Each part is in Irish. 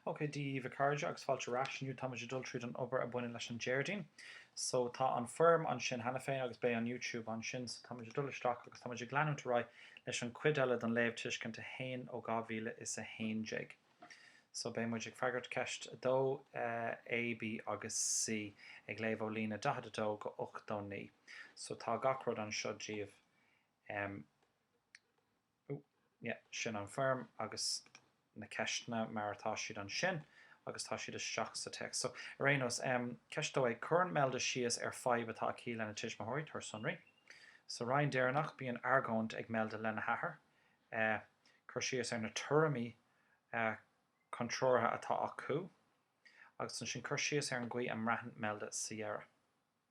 Ok, Dia daoibh a chairde agus fáilte ar ais. Inniu táimid ag dul tríd an obair a baineann leis an Déardaoin. So tá an foirm ansin cheana féin agus beidh an YouTube ansin so táimid ag dul isteach agus táimid ag leanúint ar aghaidh leis an cuid eile don léamh tuiscint 1 ó 2011. So beidh muid ag freagairt ceist 2, eh, A, B agus C ag léamh ó líne 42 go 89. So tá gach rud anseo daoibh. Em. Ó, yeah, sin an foirm agus na ceisteanna mar atá siad ansin agus tá siad isteach sa téacs. So, ar aon nós, em, ceist 2 A, cuireann Imelda síos ar fadhb atá aici lena tuismitheoirí, tabhair sonraí. Sa roinn deireanach bíonn argóint ag Imelda lena hathair, eh, cur síos ar na tuairimí, eh, contrártha atá acu agus ansin cur síos ar an gcaoi a mbraitheann Imelda sa dheireadh.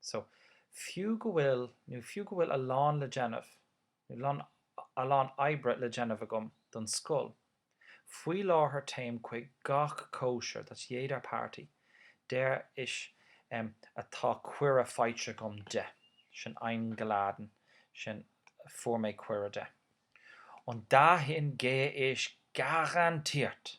So, fiú go bhfuil, nó fiú go bhfuil a lán le déanamh, nó lon, a lán oibre le déanamh agam don scoil, faoi láthair téim chuig gach cóisir that's jeder Party, der ich, em, atá cuireadh faighte agam de, sin eingeladen, sin fuair mé cuireadh de. Und dahin gehe ich garantiert!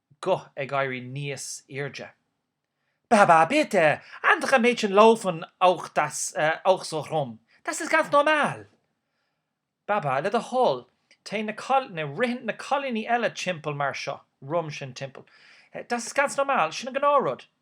guth ag éirí níos airde. Baba, bitte, andere Mädchen laufen auch, das auch so rum, das ist ganz normal! Baba, le do thoil, téann na, ritheann na cailíní eile timpeall mar seo, rum sin timpeall. Das ist ganz normal, sin an gnáth-rud.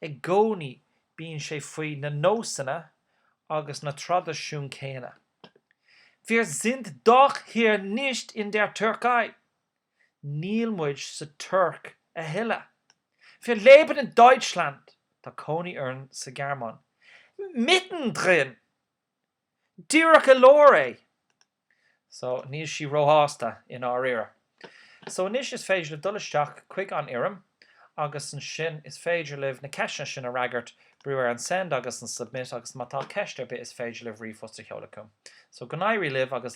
I gcónaí bíonn sé faoi na nósanna agus na traidisiúin céanna. Wir sind doch hier nicht in der Türkei! Níl muid sa Tuirc a thuilleadh. Wir leben in Deutschland! Tá cónaí orainn sa Ghearmáin. Mittendrin! Díreach i lár é! So, níl sí róshásta, i ndáiríre. So, anois is féidir libh dul isteach chuig an fhoirm agus ansin is féidir libh na ceisteanna sin a fhreagairt, brú ar an Send agus an Submit agus má tá ceist ar bith is féidir libh ríomhphost a sheoladh chugam. So, go n-éirí libh agus.